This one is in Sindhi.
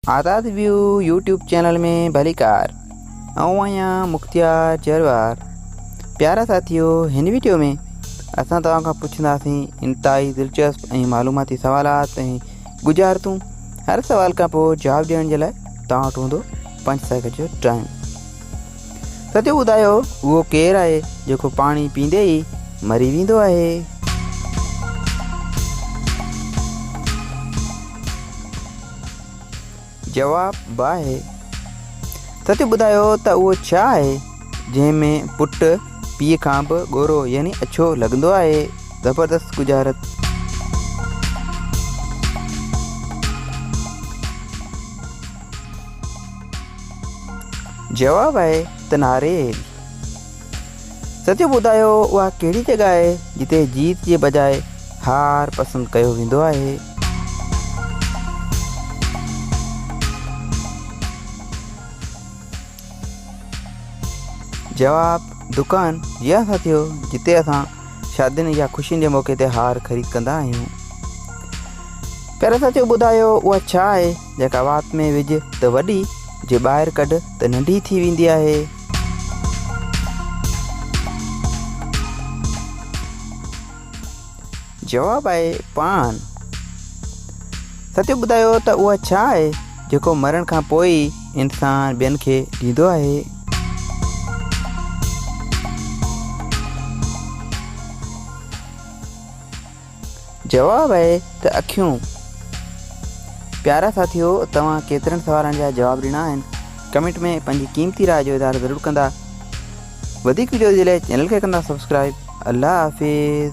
آزاد ويو يوٽيوب چينل ۾ ڀليڪار آئون آهيان مختيار جروار پيارا ساٿيو هن ويڊيو ۾ اسان توهان کان پڇنداسين انتهائي دلچسپ ۽ معلوماتي سوالات ۽ گجارتون هر سوال کان پوء جواب ڏيڻ جي لاء توهان وٽ هوندو پنج سيڪنڊ جو ٽائم ساٿيو ٻڌايو اهو ڪير آهي جيڪو پاڻي پيندي ئي مري ويندو آهي جواب، باهه سچ ٻڌايو ته اهو ڇا آهي جنهن ۾ پٽ پيء کان به ڳورو يعني اڇو لڳندو آهي؟ زبردست ڳجهارت. جواب آهي ته ناريل. سچ ٻڌايو اها ڪهڙي جڳهه آهي جتي جيت جي بجاء هار پسند ڪيو ويندو آهي. جواب، دڪان جي اسان ٿيو جتي اسان شادين يا خوشين جي موقعي تي هار خريد ڪندا آهيون. پر سچ ٻڌايو اها ڇا آهي جيڪا وات ۾ وجهه ته وڏي، جي ٻاهر ڪڍ ته ننڍي ٿي ويندي آهي. جواب آهي پاڻ. ستيو ٻڌايو ته اها ڇا آهي جيڪو مرڻ کان پوء ئي انسان ٻين کي ڏيندو آهي؟ جواب آهي ته اکيون. پيارا ساٿيو توهان ڪيترن سوالن جا جواب ڏنا آهن ڪمينٽ ۾ پنهنجي قيمتي راء جو اظهار ضرور ڪندا وڌيڪ وڊيوز جي لاء چينل کي ڪندا سبسڪرائب الله حافظ.